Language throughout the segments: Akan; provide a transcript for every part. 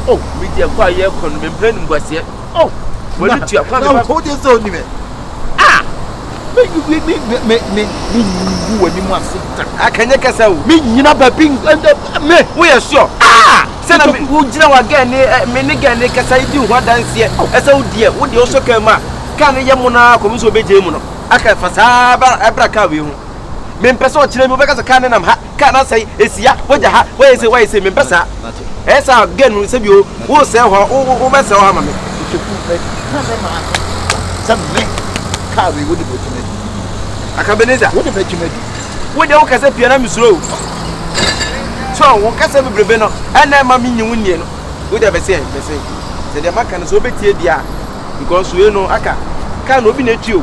o me deɛ kɔ a yɛkɔ no mempɛ animguaseɛ o wɔne tua kwan na wokɔ deɛ sɛ ɔnimɛ a mengu w'anim ase da akanyɛ kɛsɛ o menyina baabi me woyɛ sure a sɛ na wogyina wa gɛ ne me ne gɛ ne kɛsɛ yi di ho adanseɛ ɛsɛ wo deɛ wo deɛ wosɔ kaa mu a kaa no yɛ mo no ara kɔmi sɛ wobɛgyae mu no aka fa saa ɛbra kaa wei ho mempɛ sɛ ɔkyerɛ mi wobɛka sɛ kaa ne nam ha car no asɛe, ɛsi ha, wagya ha, wayɛ sei, wayɛ sei, mempɛ saa. Ɛyɛ sɛ a, girl no sɛ bio, woresɛe hɔ, wo, wo, wobɛsɛe hɔ ama me. Nkeku, meka me maame sɛ me, car wei wode bɛtwa m'adi. Aka Ebenezer. Wode bɛtwa m'adi. Wo deɛ wokasa pia na mesuro o. So, wo kasa bebrebe no, ɛna ɛma menyi wo nnie no. Wo deɛ bɛsɛ, bɛsɛ. Sɛ deɛ maka no sɛ wobɛtie deɛ a, because wei no aka, car no obi na ɛtwi o.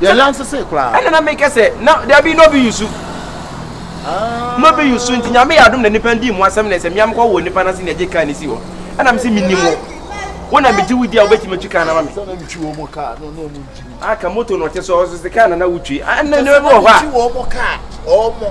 Yɛ yan sese koraa. Ɛna na me kɛ sɛ na dabi no bi yusu. Ah. No bi yusu nti nyame yɛ adom na nipa ndi mu asɛm na ɛsɛ mia mekɔ wɔ nipa n'ase na ɛgye kan ne si hɔ. Ɛna me se me nim hɔ. Wo na me gye wo di a wobɛtumi atwi kan na ma me. Sɛ na metwi wɔ mo kaa no na ɔmo ngye mu. Aka moto na ɔte so ɔso se kaa na na wotwi. Ɛna na bi wɔ hɔ a. Sɛ metwi wɔ mo kaa ɔmo.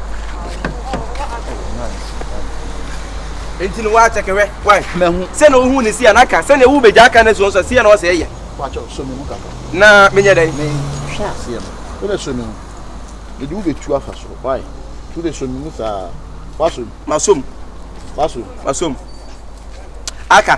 nti no woakyɛ kɛwɛ wae mahu sɛ na wohu ne si a naka sɛnea wo bɛgya aka no suɔ sɛ seɛ na ɔsɛ ɛyɛ na menyɛ dɛn hwɛ aseɛ no wobɛ sɔ me mu ɛde wo bɛtu afa soro wae nti wobɛ sɔ me mu saa wasom masom wasom masom aka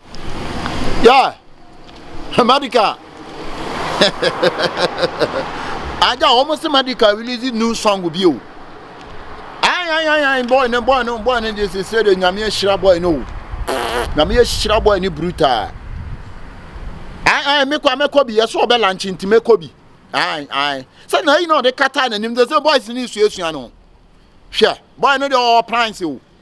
Yeah, medical. Aja, wɔn sɛ medical release new song bi o. Ayanyanyan boy no boy no boy no de sese de nyame ahyira boy no o. Nyame ahyira boy no brutal. Ayi ayi mekɔ amekɔ bi ɛsɛ ɔbɛ lanchi nti mekɔ bi. Ayi ayi sɛ na ayi na ɔde kata n'anim de sɛ boys no esuasua no. Hwɛ boy no de ɔwɔ plans o.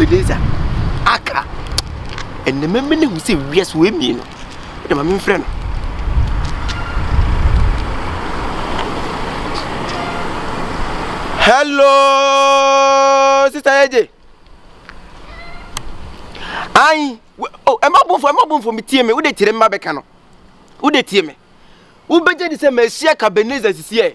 Ebenezer, aka. Ɛnna mɛmɛ no hu sɛ wiase wɔ emie no. Ɛnna maame mfrɛ no. Hello, sista Eje. Ayi, o ɛma bonfo ɛma bonfo mi tie mi, wo de kyerɛ mi ma bɛka no. Wo de tie mi. Wo bɛgye de sɛ mɛ ahyia ka Ebenezer sisi yɛ.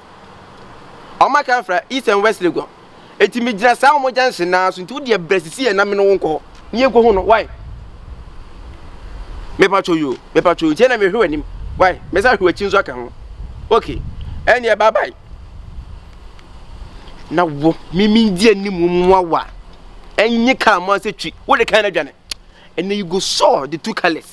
Ɔmo aka afra east and west legon. Eti me gyina saa ɔmo junction naa so nti wo deɛ brɛ sisi yɛ na me ne wo nkɔ hɔ. Ne yɛ nkohu no why? Me patro yo me patro nti na me hwe w'anim why? Me sa hwe w'akyi nso aka ho. Okay ɛneɛ bye bye. Na wo me me di anim mu awa. Ɛnye car mo asɛ twi wo de kan na dwane. And then you go saw the two colors.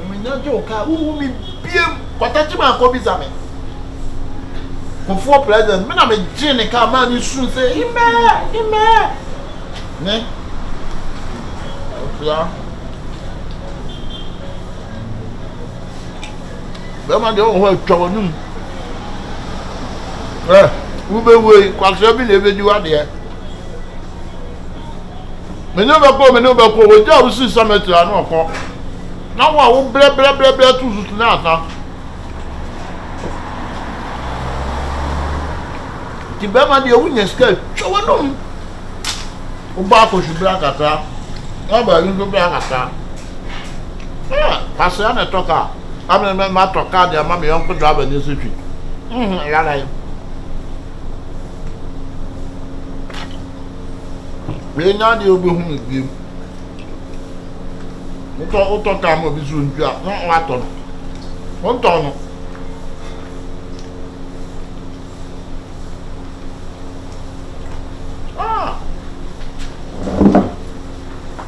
Ɔmɛnyadwo kaa wohu me biem watakye me akɔbisa me kofoɔ present me na megyee ne kaa maa ne suu sɛ imɛɛ imɛɛ ne ɔfia bɛma deɛ ɔwɔ hɔ atwa w'anom ɛ wobɛwuei kwaserɛ bi na ɛbɛdi wadeɛ me ne wo bɛkɔ me ne wo bɛkɔ wɔgya a wosi cemetery a na ɔkɔ na wo a wo brɛbrɛbrɛbrɛ to susu na asa nti bɛrima deɛ wonya sika twa w'anom wobɔ akɔhwe berɛ akata woaba ayi nso berɛ akata pasea na ɛtɔ kaa amene matɔ kaa deɛ ama me yɔnko driver ne nso twi yɛalae Wei nyɛ adeɛ wobɛhu no biom. Wotɔ wotɔ kaa ma obi so ntu a na watɔ no. Wontɔ no. Ah!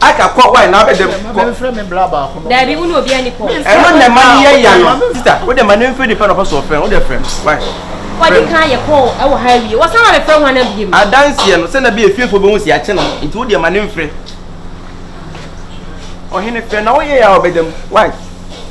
Aka kɔ why na abɛdɛ kɔ. Mama mfrɛ me bra baako no. Dabi wo ne obi ani kɔ. Ɛno na ɛma no yɛ ya no. Sista wo de ma no mfrɛ nipa na ɔpɛ sɛ ɔfrɛ no wo de frɛ no why. Wadi kan yɛ kɔɔ ɛwɔ ha awie wɔsan ma bɛfrɛ ho ana biem. Adanseɛ no sɛ na bi efiefoɔ bɛhu si akye no nti wo de ma no mfrɛ. Ɔhene frɛ na wo yɛ ya ɔbɛdam why.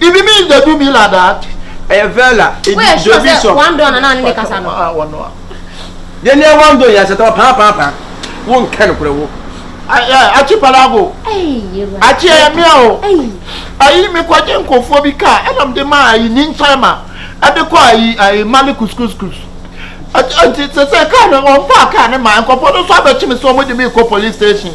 Ibi mi nda du mi la dat. Ɛyɛ vɛla edi dɔ bi sɔ. Wandon na na ne de kasa no. Ah wɔn a. Yɛ ni ɛwɔ ndo yɛ asɛtɔ paa paa paa. Wo nkɛ no korɛ wo. Ayɛ akyi palago. Akyi ɛyɛ mia o. Ayi mi kɔgye nkofoɔ bi kaa ɛna mi de ma ayi ni nkyɛn ma ɛde kɔ ayi ayi mali kuskuskus. Ɛti sɛ sɛ kaa no wɔn faa kaa ne ma nkɔfoɔ no nso abɛkyi mi sɛ wɔn de mi kɔ police station.